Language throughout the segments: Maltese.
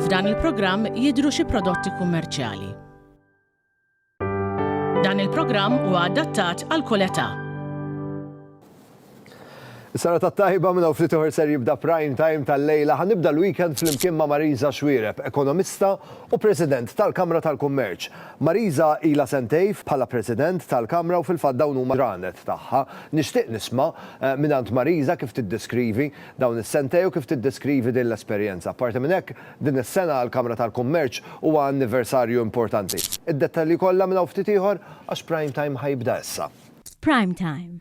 F'dan il-programm jidhru xi prodotti kummerċjali. Dan il-programm huwa adattat għal kull età. Is-sena tat-tajba minn hawn ftit ieħor ser jibda Prime Time tal-lejla. Ħa nibda l-weekend flimkien ma' Marisa Xuereb, ekonomista u President tal-Kamra tal-Kummerċ. Marisa ilha sentejn bħala President tal-Kamra u fil-fatt dawn huma l-ġranet tagħha. Nixtieq nisma' mingħand Marisa kif tiddeskrivi dawn is-sentejn u kif tiddeskrivi din l-esperjenza. Apparti minn hekk, din is-sena għall-Kamra tal-Kummerċ huwa anniversarju importanti. Id-dettalji kollha minn hawn ftit ieħor għax Prime Time ħa jibda issa. Prime Time,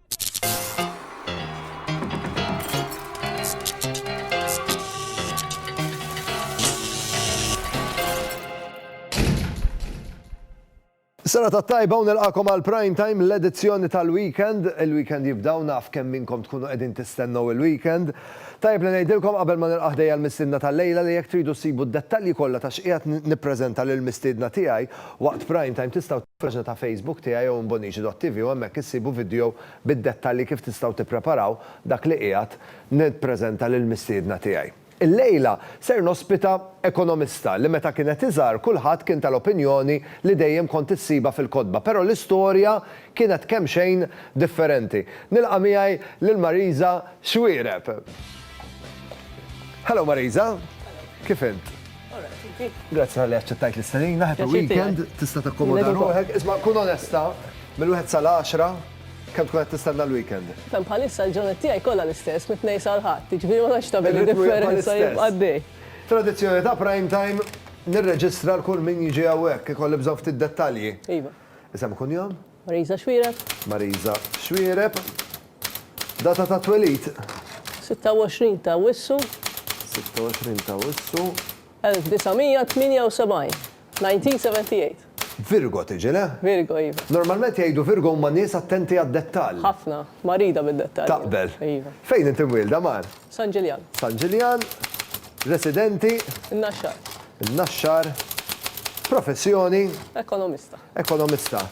Sena ta' tajba u nilqakom għal prime time l-edizzjoni tal-weekend. Il-weekend jibdaw naf kemm minnkom tkunu qegħdin tistennew il-weekend. Tajb li ngħidilkom qabel ma nilqaħ dejja l-mistiedna tal-lejla li jekk tridu ssibu d-dettalji kollha ta' x'qiegħed nippreżenta lill-mistiedna tiegħi waqt prime time tistgħu Paġna ta' Facebook tiegħi jew imbonigi.tv u hemmhekk issibu vidjo bid-dettalji kif tistgħu tippreparaw dak li qiegħed nippreżenta lill-mistiedna tiegħi. Illejla ser nospita ekonomista li meta kienet iżgħar kulħadd kien tal-opinjoni li dejjem kont issibha fil-kotba però l-istorja kienet kemxejn differenti. Nilqa' miegħi lil Marisa Xuereb. Hello Marisa! Kif int? Grazzi tal-li għacċettajt l-istanina, happy weekend, tista takkomoda ruħek, isma kun onesta, mill-1 sal-10, kem tkun għed tistanna l-weekend? Fem bħalissa l-ġunet tijaj kolla l-istess, mit-nej sal-ħat, ġviri ma naċ tabeli differenza jibqaddi. Tradizjoni ta' prime time, nirreġistra l-kull min jġi għawek, kolli bżon ftit dettalji. Iva. Isem kun jom? Mariża Xuereb. Mariża Xuereb. Data ta' twelid? 26 ta' Awwissu. 26 ta' Awwissu. 1978. 1978. Virgo tiġi, le? Virgo, iva. Normalment jgħidu Virgo huma nies attenti għad-dettall. Ħafna. Marida bid-dettalji. Taqbel. Iva. Fejn inti mwielda, Mar? San Ġiljan. San Ġiljan. Residenti? In-Naxxar. In-Naxxar. Professjoni? Ekonomista. Ekonomista.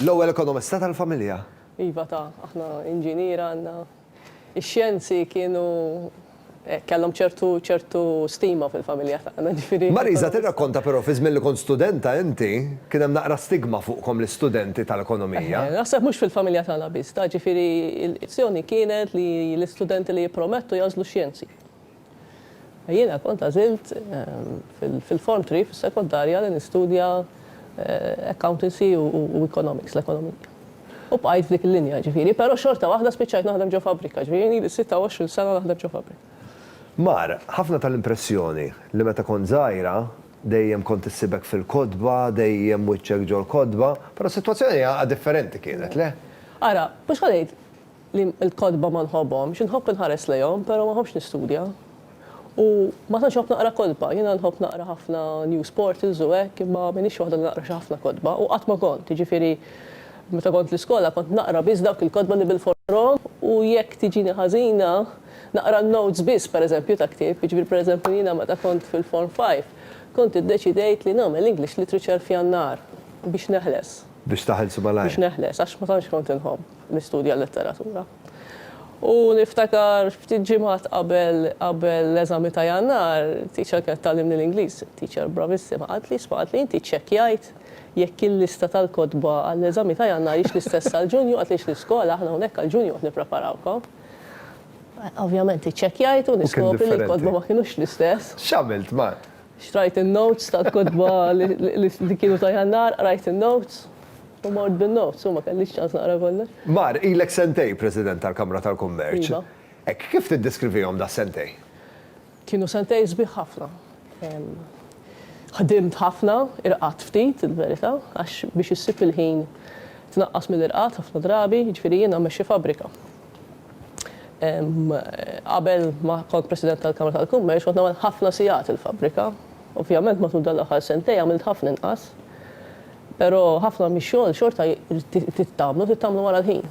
L-ewwel ekonomista tal-familja. Iva ta, aħna inġiniera għandna. Ix-xjenzi kienu hekk, kellhom ċertu ċertu stima fil-familja tagħna, ġifieri. Marisa, tirrakkonta però fi żmien li kont studenta inti, kien hemm naqra stigma fuqkom l-istudenti tal-ekonomija. Eħe, naħseb mhux fil-familja tagħna biss ta, ġifieri l-zzjoni kienet li l-istudenti li jippromettu jagħżlu x-xjenzi. Jiena kont għażilt fil-Form Three fis-sekondarja li nistudja Accountancy u Economics, l-ekonomija. U bqajt f'dik il-linja, jiġifieri, però xorta waħda spiċċajt naħdem ġo fabbrika, jiġifieri jien ili 26 sena naħdem ġo fabbrika. Mar, ħafna tal-impressjoni li meta kont żgħira, dejjem kont issibek fil-kotba, dejjem wiċċek ġol-kotba, però s-sitwazzjoni għaqad differenti kienet, le? Ara, mhux ħa ngħid, li l-kotba ma nħobbhomx, inħobb inħares lejhom però ma nħobbx nistudja. U ma tantx inħobb naqra kotba, jiena nħobb naqra ħafna news portals u hekk imma m'iniex waħda li naqra xi ħafna kotba u qatt ma kont, jiġifieri meta kont l-iskola kont naqra biss dawk il-kotba li bil-fors naqrahom u jekk tiġini ħażina naqra n-notes biss pereżempju ta' ktieb, jiġifieri pereżempju jiena meta kont fil-Form Five kont iddeċidejt li nagħmel English Literature f'Jannar biex neħles. Biex taħelsu malajr. Biex neħles għax ma tantx kont inħobb. nistudja l-letteratura. U niftakar ftit ġimgħat qabel qabel l-eżami ta' Jannar, teacher kienet tgħallimni l-Ingliż, teacher bravissima, qaltli, isma' qaltli inti ċċekkjajt jekk il-lista tal-kotba għall-eżami ta' Jannar hix l-istess għal Ġunju, qaltli hix l-iskola, aħna hawnhekk għal Ġunju qed nippreparawkom. Ovvjament iċċekkjajt u niskopri li l-kotba ma kinux l-istess. X'għamilt, Mark? Xtrajt in-notes tal-kotba li kienu ta' Jannar, qrajt in-notes u mort bin-notes u ma kellix ċans naqra kollox. Bar, ilek sentejn President tal-Kamra tal-Kummerċ. Iva. Hekk, kif tiddeskrivihom das-sentejn? Kienu sentejn sbieħ ħafna. Ħdimt ħafna, irqadt ftit, il-verità, għax biex issib il-ħin tnaqqas mill-irqad ħafna drabi, jiġifieri jiena mmexxi fabbrika. Qabel ma kont President tal-Kamra tal-Kummerċ kont nagħmel ħafna sigħat il-fabbrika. Ovvjament matul dawn l-aħħar sentejn għamilt ħafna inqas. Però ħafna mix-xogħol xorta trid tagħmlu, trid tagħmlu wara l-ħin.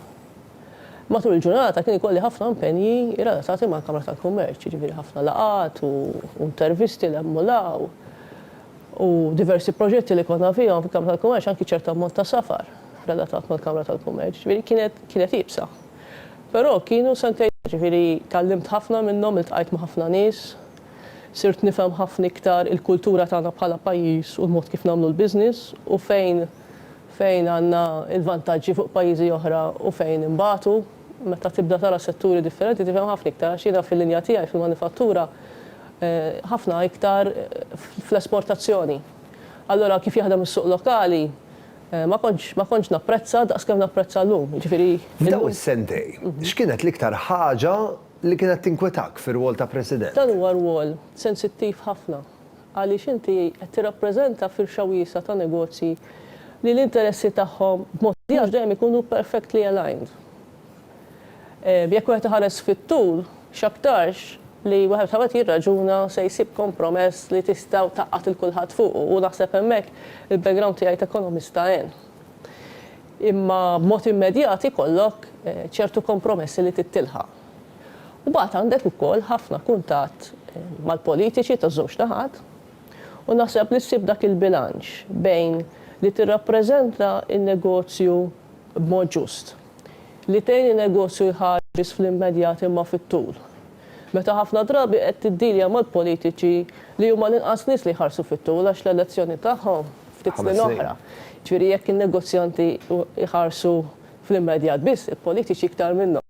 Matul il-ġurnata kien ikolli ħafna impenji relatati mal-Kamra tal-Kummerċ, jiġifieri ħafna laqgħat u intervisti 'l hemm u 'l hawn. u diversi proġetti li konna fihom fil-Kamra tal-Kummerċ, anki ċertu ammont ta' safar relatat mal-Kamra tal-Kummerċ, jiġifieri kienet kienet iebsa. Però kienu sentejn, jiġifieri tgħallimt ħafna minnhom, iltqajt ma' ħafna nies, sirt nifhem ħafna iktar il-kultura tagħna bħala pajjiż u l-mod kif nagħmlu l-business u fejn fejn għandna l-vantaġġi fuq pajjiżi oħra u fejn inbatu. Meta tibda tara setturi differenti tifhem ħafna iktar għax jiena fil-linja tiegħi fil-manifattura ħafna iktar fl-esportazzjoni. Allura kif jaħdem is-suq lokali ma kontx ma kontx napprezza daqs kemm napprezza llum, jiġifieri F'dawn is-sentej, x'kienet l-iktar ħaġa li kienet tinkwetak fir-rwol ta' President? Dan huwa rwol sensittiv ħafna għaliex inti qed tirrappreżenta firxa wiesgħa ta' negozji li l-interessi tagħhom b'mod li mhux dejjem ikunu perfectly aligned. Jekk wieħed iħares fit-tul, x'aktarx li wieħed meta wieħed jirraġuna se jsib kompromess li tista' tgħaqqad lil kulħadd fuqu u naħseb hemmhekk il-background tiegħi ta' ekonomista għen. Imma b'mod immedjat ikollok ċertu kompromessi li trid tilħaq. U mbagħad għandek ukoll ħafna kuntatt mal-politiċi taż-żewġ naħat u naħseb li ssib dak il-bilanċ bejn li tirrappreżenta n-negozju b'mod ġust, li tgħin in-negozju jħares fl-immedjat imma fit-tul, meta ħafna drabi qed tiddilja mal-politiċi li huma l-inqas nies li jħarsu fit-tul għax l-elezzjoni tagħhom ftit snin oħra. Jiġifieri jekk in-negozjanti jħarsu fl-immedjat biss, il-politiċi iktar minnhom.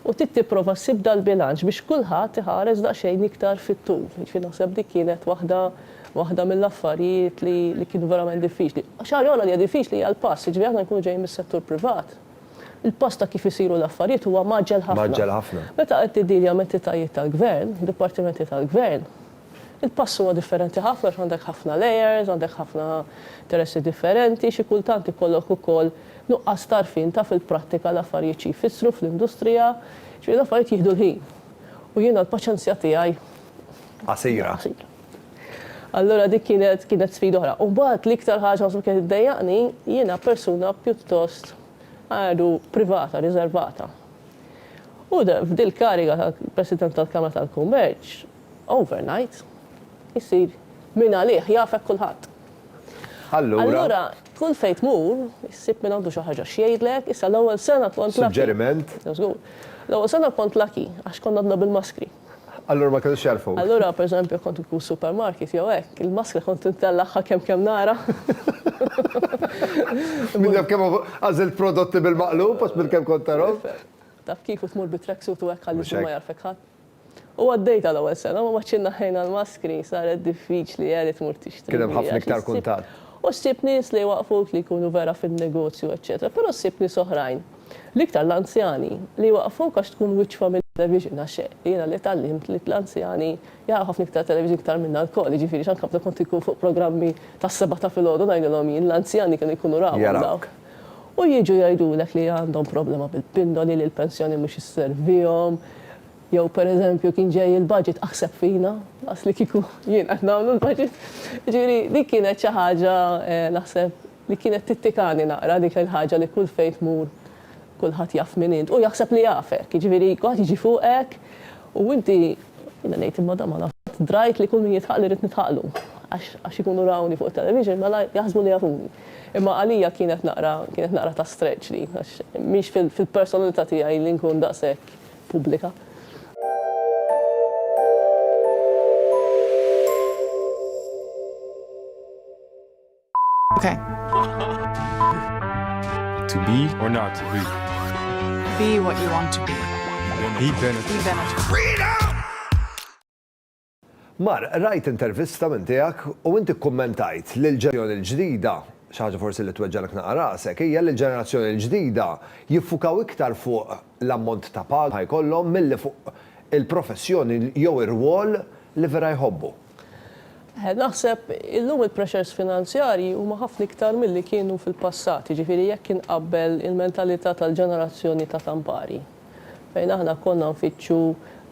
U trid tipprova ssib dal-bilanċ biex kulħadd iħares daqsxejn iktar fit-tul. Jiġifieri naħseb dik kienet waħda waħda mill-affarijiet li li kienu verament diffiċli. Xi ħaġa oħra li hija diffiċli hija l-pass, jiġifieri aħna nkunu ġejjin mis-settur privat, il-pass ta' kif isiru l-affarijiet huwa mgħaġġel ħafna. Mgħaġġel ħafna. Meta qed tiddilja ma' entitajiet tal-gvern, dipartimenti tal-gvern, Il-pass huwa differenti ħafna għax għandek ħafna layers, għandek ħafna interessi differenti, xi kultant ikollok ukoll nuqqas t'għarfien ta' fil-prattika l-affarijiet xi jfissru fl-industrija, jiġifieri l-affarijiet jieħdu l-ħin. U jiena l-paċenzja tiegħi Qasira. Allura dik kienet kienet sfida oħra. U mbagħad l-iktar ħaġa naħseb kienet iddejjaqni, jiena persuna pjuttost għadu privata, riżervata. U f'dil-kariga ta' President tal-Kamra tal-Kummerċ, Overnight isir min għalih, jafek kulħadd. Allura. Allura kull fejn tmur, issib minn għandu xi ħaġa x'jgħidlek, issa l-ewwel sena kont lucky. Suġġeriment. Żgur. L-ewwel sena kont lucky għax konna għadna bil-maskri. Allura ma kinux jagħrfuk. Allura pereżempju kont inkun supermarket jew hekk, il-maskra kont intellagħha kemm kemm nara. Min jaf kemm għażilt prodotti bil-maqlub għax minn kemm kont tarahom. Taf kif u tmur bit-tracksuit u hekk għaliex ma jagħrfek ħadd. U għaddejtha l-ewwel sena, ma baqgħetx inneħħejna l-maskri, saret diffiċli, Eli tmur tixtri. Kien hemm ħafna iktar kuntatt. U ssib nies li jwaqqfuk li jkunu vera fin-negozju eċċetera, però ssib nies oħrajn, l-iktar l-anzjani, li jwaqqfuk għax tkun wiċċ familja television għax jiena li tgħallimt li l-anzjani jaraw ħafna iktar television iktar minna lkoll, jiġifieri x'għandkom kont inkun fuq programmi tas-sebgħa ta' filgħodu ngħidilhom jien, l-anzjani kienu jkunu rawhom dawk. u jiġu jgħidulek li għandhom problema bil-pindoli, li l-pensjoni mhux isservihom, jew pereżempju kien ġej il-budget aħseb fina, daqs li kieku jien qed nagħmlu l-budget. Jiġifieri dik kienet xi ħaġa naħseb li kienet tittikani naqra dik il-ħaġa li kull fejn tmur kulħadd jaf min int u jaħseb li jafek. Jiġifieri kulħadd jiġi fuqek u inti jiena ngħid imma dan ma nafx qatt drajt li kull min jidħaqli rrid nidħaqlu għax ikunu rawni fuq it-television mela jaħsbu li jafuni. Imma għalija kienet naqra, kienet naqra ta' stretch din, għax mhix fil-personalità tiegħi li nkun daqshekk pubblika. Mar, qrajt intervista minn tiegħek u inti kkummentajt li l-ġenerazzjoni l-ġdida, xi ħaġa forsi li tweġġagħlek naqra rasek, hija li l-ġenerazzjoni l-ġdida jiffukaw iktar fuq l-ammont ta' paga li jkollhom milli fuq il-professjoni jew ir-rwol li vera jħobbu. Naħseb illum il-pressures finanzjarji huma ħafna iktar milli kienu fil-passat, jiġifieri jekk inqabbel il-mentalità tal-ġenerazzjoni ta' Campari. fejn aħna konna nfittxu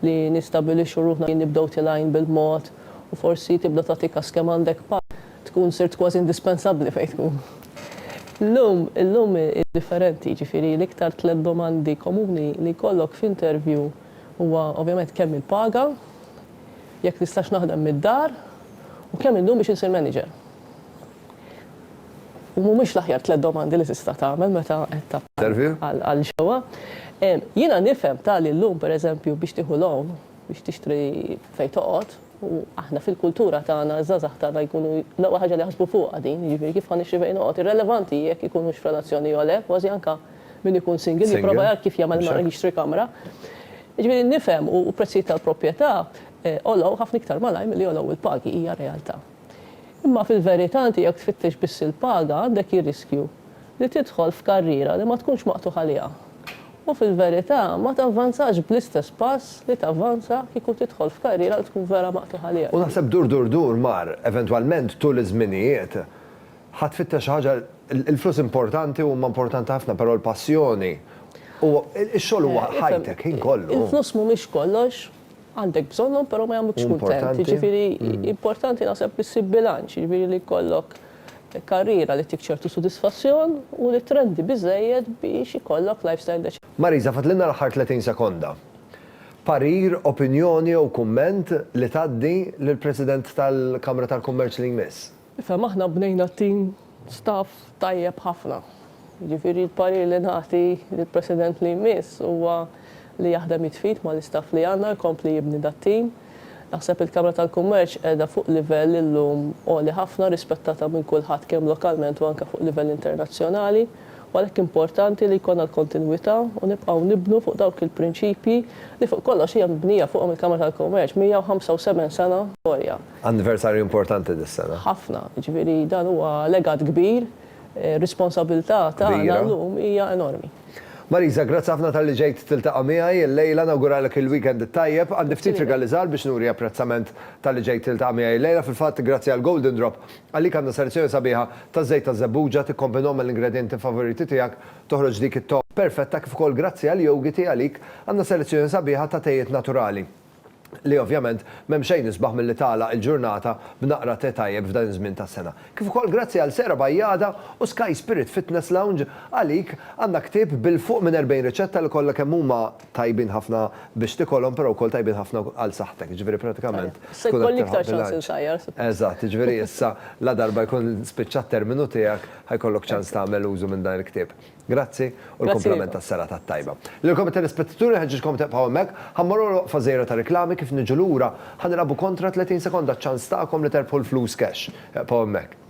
li nistabilixxu ruħna li nibdew tilgħin bil-mod u forsi tibda tagħti kas kemm għandek pass, tkun sirt kważi indispensabbli fejn tkun. Illum, illum hi differenti, jiġifieri l-iktar tliet domandi komuni li jkollok f'intervju huwa ovvjament kemm il-paga, jekk nistax naħdem mid-dar u kemm indum biex insir manager. u mhumiex l-aħjar tliet domandi li tista' tagħmel meta qed tappella għal xewqa. Jiena nifhem tali llum, pereżempju, biex tieħu loan biex tixtri fejn toqgħod, u aħna fil-kultura tagħna ż-żgħażagħ tagħna jkunu l-ewwel ħaġa li jaħsbu fuqha din, jiġifieri kif ħa nixtri fejn noqgħod. Irrelevanti hi jekk ikunux f'relazzjoni jew le, kważi anke min ikun single jipprova jara kif jagħmel mara jixtri kamra. Jiġifieri nifhem u l-prezzijiet tal-proprjetà għolew ħafna iktar malajr milli għolew il-pagi, hija realtà. Imma fil-verità inti jekk tfittex biss il-paga għandek jir-riskju li tidħol f'karriera li ma tkunx maqtugħ għaliha u fil-verità ma tavvanzax bl-istess pass li tavvanza kieku tidħol f'karriera li tkun vera maqtugħ għaliha. U naħseb dur dur dur mar, eventwalment tul iż-żminijiet ħa tfittex xi ħaġa, il-flus importanti huma importanti ħafna però l-passjoni u x-xogħol huwa ħajtek, ħin kollu. Il-flus mhumiex kollox. għandek bżonnhom però ma jagħmlukx kuntent. Jiġifieri importanti naħseb li ssib bilanċ, jiġifieri li jkollok karriera li ttik ċertu sodisfazzjon u li trendi biżżejjed biex ikollok lifestyle deċenti. Marisa, fadlilna l-aħħar 30 sekonda. Parir, opinjoni jew kumment li tgħaddi lill-President tal-Kamra tal-Kummerċ li jmiss? Ifhem aħna bnejna team staff tajjeb ħafna. Jiġifieri l-parir li nagħti lill-President li jmiss huwa li jaħdem id f'id mal-istaff li għandna jkompli jibni dat-team. Naħseb il-Kamra tal-Kummerċ qiegħda fuq livell illum għoli ħafna rispettata minn kulħadd kemm lokalment u anke fuq livell internazzjonali u għalhekk importanti li jkollna l-kontinwità u nibqgħu nibnu fuq dawk il-prinċipji li fuq kollox hija mibnija fuqhom il-Kamra tal-Kummerċ, 175 sena storja. Anniversarju importanti dis-sena. Ħafna. Jiġifieri dan huwa legat kbir. Ir-responsabbiltà tagħna llum hija enormi. Marisa, grazzi ħafna talli ġejt tiltaqa' miegħi illejla. Nawguralek il-weekend it-tajjeb. Għandi ftit rigali żgħar biex nuri apprezzament talli ġejt tiltaqa' miegħi illejla. Fil-fatt, grazzi għal Golden Drop, għalik għandna selezzjoni sabiħa ta' żejt ta' żebbuġa. Tikkombinhom mal-ingredjenti favoriti tiegħek, toħroġ dik it-togħma perfetta. Kif ukoll grazzi għal Yogiti, għalik għandna selezzjoni sabiħa ta' tejiet naturali. li ovvjament m'hemm xejn isbaħ milli tagħlaq il-ġurnata b'naqra tè tajjeb f'dan iż-żmien tas-sena. Kif ukoll grazzi għal Sera Bajjada u Sky Spirit Fitness Lounge, għalik għandna ktieb bil fuq minn 40 riċetta li kollha kemm huma tajbin ħafna biex tikolhom però wkoll tajbin ħafna għal saħħtek, jiġifieri pratikament tkun qed tilħaq bilanċ. Eżatt, jiġifieri issa ladarba jkun spiċċa t-terminu tiegħek ħajkollok ċans tagħmel użu minn dan il-ktieb. Grazzi u l-kumplament tas-serata t-tajba. Lilkom it-telespettaturi nħeġġiġkom tibqgħu hemmhekk. Ħa mmorru għal waqfa żgħira ta' riklami kif niġu lura ħa nilgħabu kontra 30 sekonda ċ-ċans tagħkom li terbħu l-flus cash. Ibqgħu hemmhekk.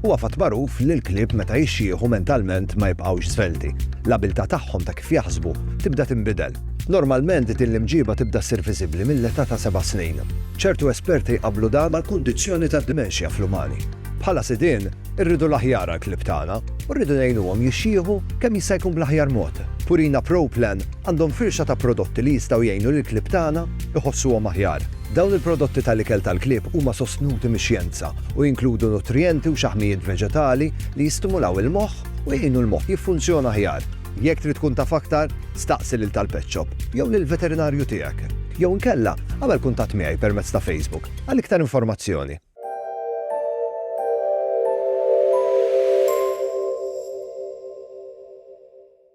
Huwa fatt magħruf li l-klieb meta jixjieħu mentalment ma jibqgħux żvelti. L-abiltà tagħhom ta' kif jaħsbu tibda tinbidel. Normalment din l-imġiba tibda ssir viżibbli mill-età ta' seba' snin. Ċertu esperti jqabblu dan mal-kundizzjoni tad-dimenxja fl-umani. Bħala sidien, irridu l-aħjar għall-klieb tagħna u rridu ngħinuhom jixjieħu kemm jista' jkun bl-aħjar mod. Purina Pro Plan għandhom firxa ta' prodotti li jistgħu jgħinu lill-klieb tagħna jħossuhom aħjar. Dawn il-prodotti tal-ikel tal-klieb huma sostnuti mix-xjenza u jinkludu nutrijenti u xaħmijiet veġetali li jistimulaw il-moħħ u jgħinu l-moħħ jiffunzjona aħjar. Jekk trid tkun taf aktar, staqsi lil tal-pet shop jew lill-veterinarju tiegħek. Jew inkella, agħmel kuntatt miegħi permezz ta' Facebook għal iktar informazzjoni.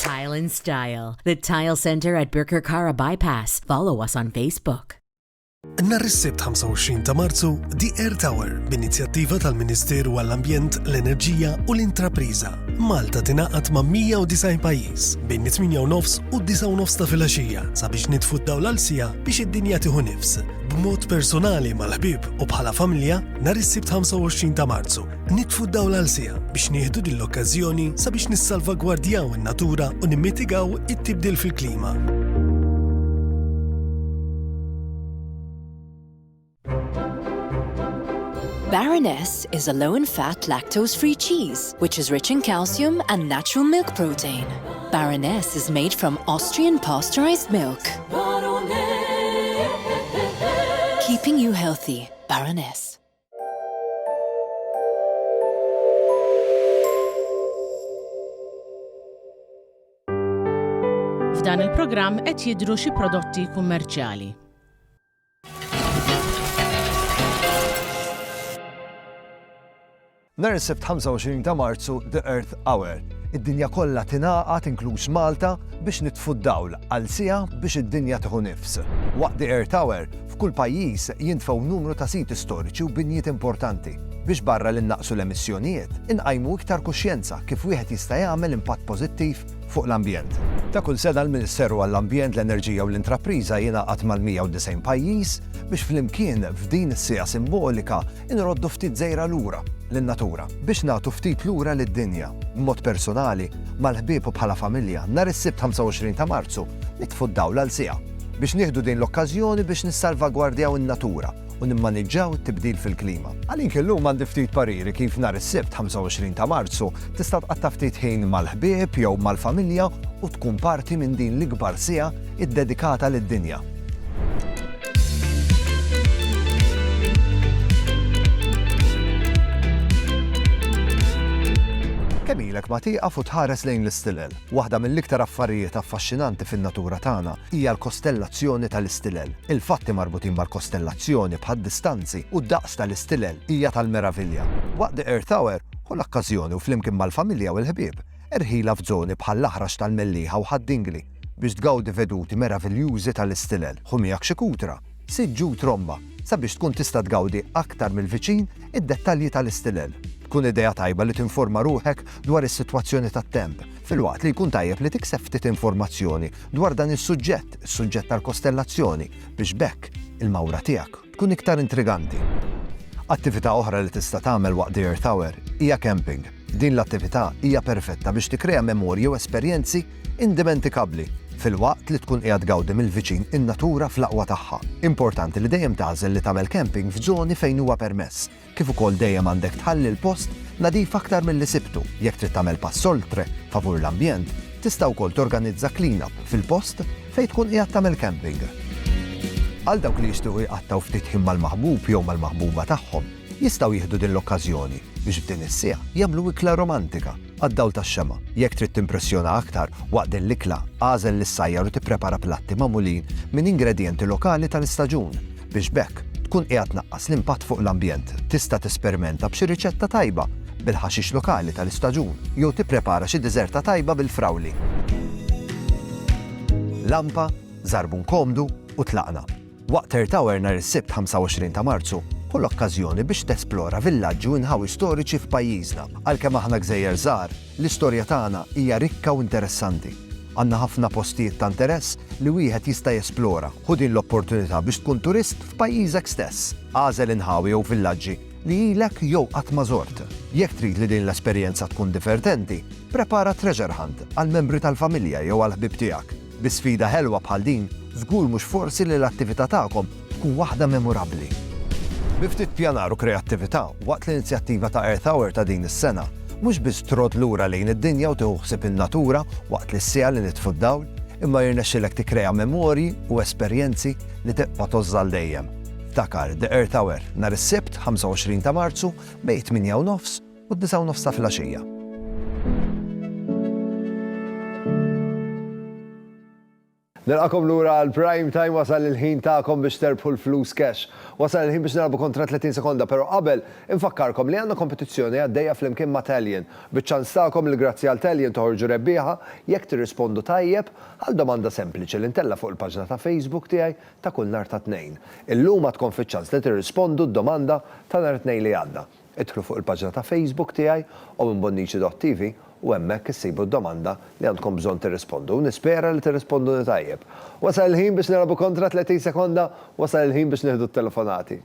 Tile and Style, the Tile Center at Birkirkara Bypass. Follow us on Facebook. Nar is-Sibt 25 ta' Marzu, The Air Tower, b'inizjattiva tal-Ministeru għall-Ambjent, l-Enerġija u l-Intrapriża. Malta tingħaqad ma' 190 pajjiż bejn 8:09 u 9:09 ta' filgħaxija sabiex nitfu d-dawl għal sija biex id-dinja tieħu nifs. B'mod personali mal-ħbieb u bħala familja, nar is-Sibt 25 ta' Marzu, Nitfu d-dawl għal siegħa biex nieħdu din l-okkażjoni sabiex nissalvagwardjaw in-natura u nimmitigaw it-tibdil fil-klima. Baroness is a low in fat lactose free cheese which is rich in calcium and natural milk protein. Baroness is made from Austrian pasteurized milk. Keeping you healthy, Baroness. F'dan il-programm qed jidhru xi prodotti kummerċjali. Nhar is-Sibt 25 ta' Marzu The Earth Hour. Id-dinja kollha tingħaqad inkluż Malta biex nitfu d-dawl għal siegħa biex id-dinja tieħu nifs. Waqt The Earth Hour F'kull pajjiż jintfgħu numru ta' siti storiċi u binjiet importanti biex barra li nnaqqsu l-emissjonijiet, inqajmu iktar kuxjenza kif wieħed jista' jagħmel impatt pożittiv fuq l-ambjent. Ta' kull sena l-Ministeru għall-Ambjent, l-Enerġija u l-Intrapriża jingħaqad mal-190 pajjiż biex flimkien f'din is-siegħa simbolika Inroddu ftit żejra lura lin-natura biex nagħtu ftit lura lid-dinja. B'mod persunali, mal-ħbieb u bħala familja, nhar is-Sibt 25 ta' Marzu nitfu d-dawl għal siegħa biex nieħdu din l-okkażjoni biex nissalvagwardjaw in-natura u nimmaniġġaw it-tibdil fil-klima. Għalink illum għandi ftit pariri kif nhar is-Sibt 25 ta' Marzu tista' tqatta' ftit ħin mal-ħbieb jew mal-familja u tkun parti minn din l-ikbar siegħa iddedikata lid-dinja. Kemm ilek ma tieqaf u tħares lejn l-istilel? Waħda mill-iktar affarijiet affaxxinanti fin-natura tagħna hija l-kostellazzjoni tal-istilel. Il-fatti marbutin mal-kostellazzjoni, bħad-distanzi u d-daqs tal-istilel, hija tal-meravilja. Waqt The Earth Hour, ħu l-okkażjoni u flimkien mal-familja u l-ħbieb, erħilha f'żoni bħall-Aħrax tal-Mellieħa u Ħad-Dingli. biex tgawdi veduti meraviljużi tal-istilel, ħu miegħek xi kutra, siġġ u tromba sabiex tkun tista' tgawdi aktar mill-viċin id-dettalji tal-istilel. Tkun idea tajba li tinforma ruħek dwar is-sitwazzjoni tat-temp, filwaqt li jkun tajjeb li tikseb ftit informazzjoni dwar dan is-suġġett, is-suġġett tal-kostellazzjoni, biex b'hekk il-mawra tiegħek, tkun iktar intriganti. Attività oħra li tista' tagħmel waqt The Earth Hour hija camping. Din l-attività hija perfetta biex tikkrea memorji u esperjenzi indimenticabbli filwaqt li tkun qiegħed tgawdi mill-viċin in-natura fl-aqwa tagħha. Importanti li dejjem tagħżel li tagħmel camping f'żoni fejn huwa permess. kif ukoll dejjem għandek tħalli l-post nadif aktar milli sibtu. Jekk trid tagħmel pass oltre favur l-ambjent, tista' wkoll torganizza clean-up fil-post fejn tkun qiegħed tagħmel camping. Għal dawk li jixtiequ jqattgħu ftit ħin mal-maħbub jew mal-maħbuba tagħhom, jistgħu jieħdu din l-okkażjoni biex f'din is-siegħa jagħmlu ikla romantika għad-dawl tax-xemgħa. Jekk trid timpressjona aktar waqt din l-ikla, agħżel lis-sajjar u tipprepara platti magħmulin minn ingredjenti lokali tal-istaġun. biex b'hekk tkun qiegħed tnaqqas l-impatt fuq l-ambjent. Tista' tesperimenta b'xi riċetta tajba bil-ħaxix lokali tal-istaġun jew tipprepara xi diżerta tajba bil-frawli. Lampa, żarbun komdu u tlaqna. Waqt Earth Hour nhar is-Sibt 25 ta' Marzu, ħu l-okkażjoni biex tesplora villaġġi u inħawi storiċi f'pajjiżna. Għalkemm aħna gżejjer żgħar, L-istorja tagħna hija rikka u interessanti. Għandna ħafna postijiet ta' interess li wieħed jista' jesplora. Ħu din l-opportunità biex tkun turist f'pajjiżek stess. Agħżel inħawi jew villaġġi li ilek jew qatt ma żort. Jekk trid li din l-esperjenza tkun divertenti, prepara treasure hunt għall-membri tal-familja jew għall-ħbieb tiegħek. Bi sfida ħelwa bħal din, żgur mhux forsi li l-attività tagħkom tkun waħda memurabbli. Bi ftit pjanar u kreattività, waqt l-inizjattiva ta' Earth Hour ta' din is-sena, mhux biss trodd lura lejn id-dinja u tieħu ħsieb in-natura waqt li s-siegħa li nitfu d-dawl, imma jirnexxilek tikkrea memorji u esperjenzi li tibqa' tgħożż għal dejjem. Ftakar The Earth Hour, nhar is-Sibt, 25 ta' Marzu, bejn it-tmienja u nofs u d-disgħa u nofs filgħaxija. Nilqakom lura għal Prime Time wasal il-ħin tagħkom biex terbħu l-flus cash. Wasal il-ħin biex nilagħbu kontra 30 sekonda, però qabel infakkarkom li għandna kompetizzjoni għaddejja flimkien ma' Talion, biċ-ċans tagħkom li grazzi għal Talion toħorġu rebbieħa jekk tirrispondu tajjeb għal domanda sempliċi li ntella' fuq il-paġna ta' Facebook tiegħi ta' kull nhar tat-Tnejn. Illum għadkom fiċ-ċans li tirrispondu d-domanda ta' nhar it-Tnejn li għadda. Idħlu fuq il-paġna ta' Facebook tiegħi owenbonnici.tv u hemmhekk issibu d-domanda li għandkom bżonn tirrispondu. Nispera li tirrisponduni tajjeb. Wasal il-ħin biex nilagħbu kontra 30 sekonda, wasal il-ħin biex nieħdu t-telefonati.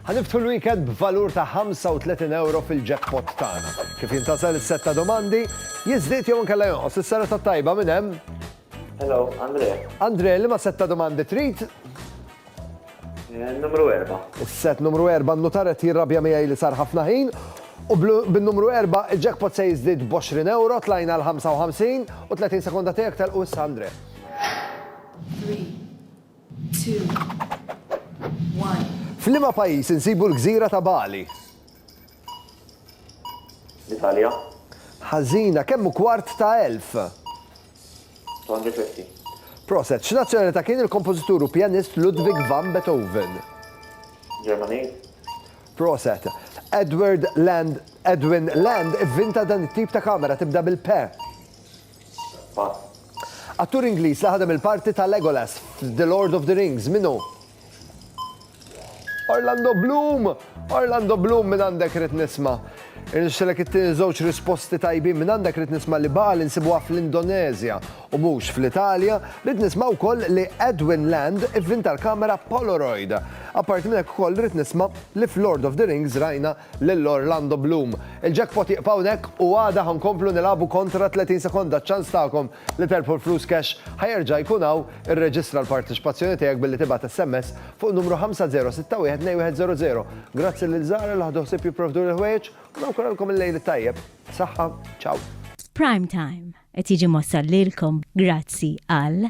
Ħa niftħu l-weekend b'valur ta' 35 ewro fil-jackpot tagħna. Kif jintgħażel is-sett ta' domandi? Jiżdied jew inkella jonqos? Is-sena tat-tajba minn hemm? Hello, Andre. Andre, liema sett ta' domandi trid? Eh, numru erba'. Is-sett numru erba' n-nutar qed jirrabja miegħi li sar ħafna ħin u bin-numru erba' il-jackpot se jiżdied b'20 euro tlajna l-55 u 30 sekonda tiegħek tal-qus Andre. 3 F'liema pajjiż insibu l-gżira ta' Bali? L-Italja. Ħażina, kemm hu kwart ta' elf? 250. Proset, x'nazzjonalità kien il-kompożitur u pjanist Ludwig van Beethoven? Ġermaniż. Proset. Edward Land, Edwin Land ivvinta dan it-tip ta' kamera tibda bil-P. Pass. Attur Ingliż li ħadem il-parti ta' Legolas f'The Lord of the Rings, min hu? Orlando Bloom! Orlando Bloom minn għandek rrit nisma. Irnexxilek it-tieni żewġ risposti tajbin minn għandek rrit nisma li baqa li nsibuha fl-Indonezja u mhux fl-Italja, rrit nisma wkoll li Edwin Land ivvinta l-kamera Polaroid. Apparti minn hekk ukoll rrit nisma li f'Lord of the Rings rajna lil Orlando Bloom. Il-jackpot jieqfa hawnhekk u għada ħa nkomplu nilagħbu kontra 30 sekonda ċ-ċans tagħkom li terbħu l-flus cash ħa jerġa' jkun hawn, irreġistra l-parteċipazzjoni tiegħek billi tibgħat SMS fuq in-numru 50612100. Grazzi lil Zara li ħadu ħsieb jipprovduli l-ħwejjeġ u nawguralkom il-lejl it-tajjeb. Saħħa, ciao. Prime Time qed jiġi mwassal lilkom grazzi għal.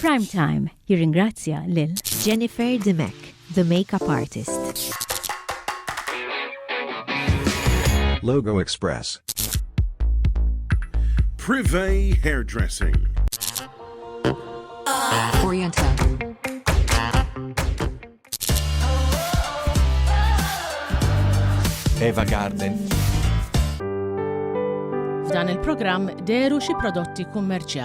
Prime Time jirringrazzja lil Jennifer Dimech, the makeup artist. Logo Express. Privé Hairdressing. Oriental. Eva Garden. F'dan il-programm deru xi prodotti kummerċjali